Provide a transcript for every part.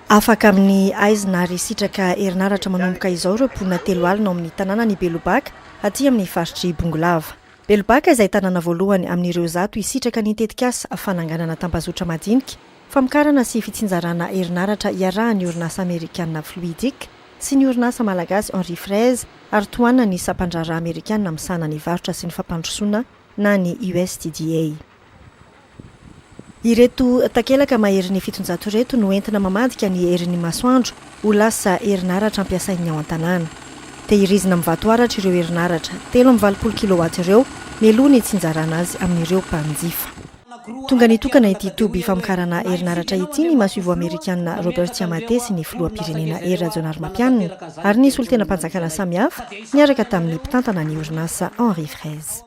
Afaka amin'ny haizina ary sitraka herinaratra manomboka izao ireo mponina telo alina ao amin'ny tanànan'i Belobaka, aty amin'ny faritr'i Bongolava. Belobaka izay tanàna voalohany amin'ireo zato hisitraka ny tetikasa fananganana tambazotra madinika, famokarana sy fitsinjarana herinaratra iarahan'ny orinasa amerikanina Fluidic sy ny orinasa malagasy Henri Fraise ary tohanan'ny sampandraharaha amerikanina misahana ny varotra sy ny fampandrosoana na ny USTDA. Ireto takelaka maherin'ny fitonjato ireto no entina mamadika ny herin'ny masoandro ho lasa herinaratra ampiasain'ny ao an-tanàna. Tehirizina amin'ny vatoaratra ireo herinaratra telo amby valopolo kilowatt ireo mialoha ny hitsinjarana azy amin'ireo mpanjifa. Tonga nitokana ity toby famokarana herinaratra ity ny masoivoho amerikanina Robert Chiamate sy ny filoham-pirenena Hery Rajaonarimampianina ary ny solontenam-panjakana samihafa niaraka tamin'ny mpitantana ny orinasa Henri Fraise.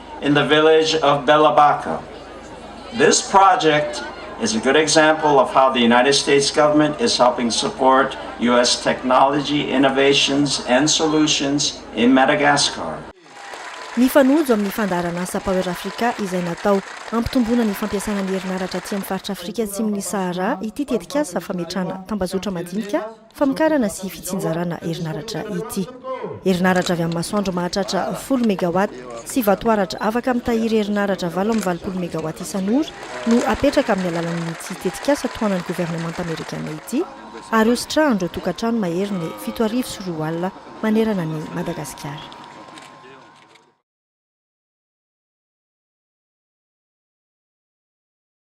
in the village of Belabaca. This project is a good example of how the United States government is helping support US technology innovations and solutions in Madagascar. Mifanojo amin'ny fandaharan'asa Power Africa izay natao hampitomboana ny fampiasana ny herinaratra aty amin'ny faritra Afrika Atsimon'i Sahara ity tetikasa fametrahana tambazotra madinika, Famokarana sy fitsinjarana herinaratra ity. Herinaratra avy amin'ny masoandro mahatratra folo megawatt sy vatoaratra afaka mitahiry herinaratra valo amby valopolo megawatt isan'ora no apetraka amin'ny alalan'ity tetikasa tohanan'ny governemanta amerikana ity ary hositrahan'ireo tokantrano maherin'ny fito arivo sy roa alina manerana an'i Madagasikara.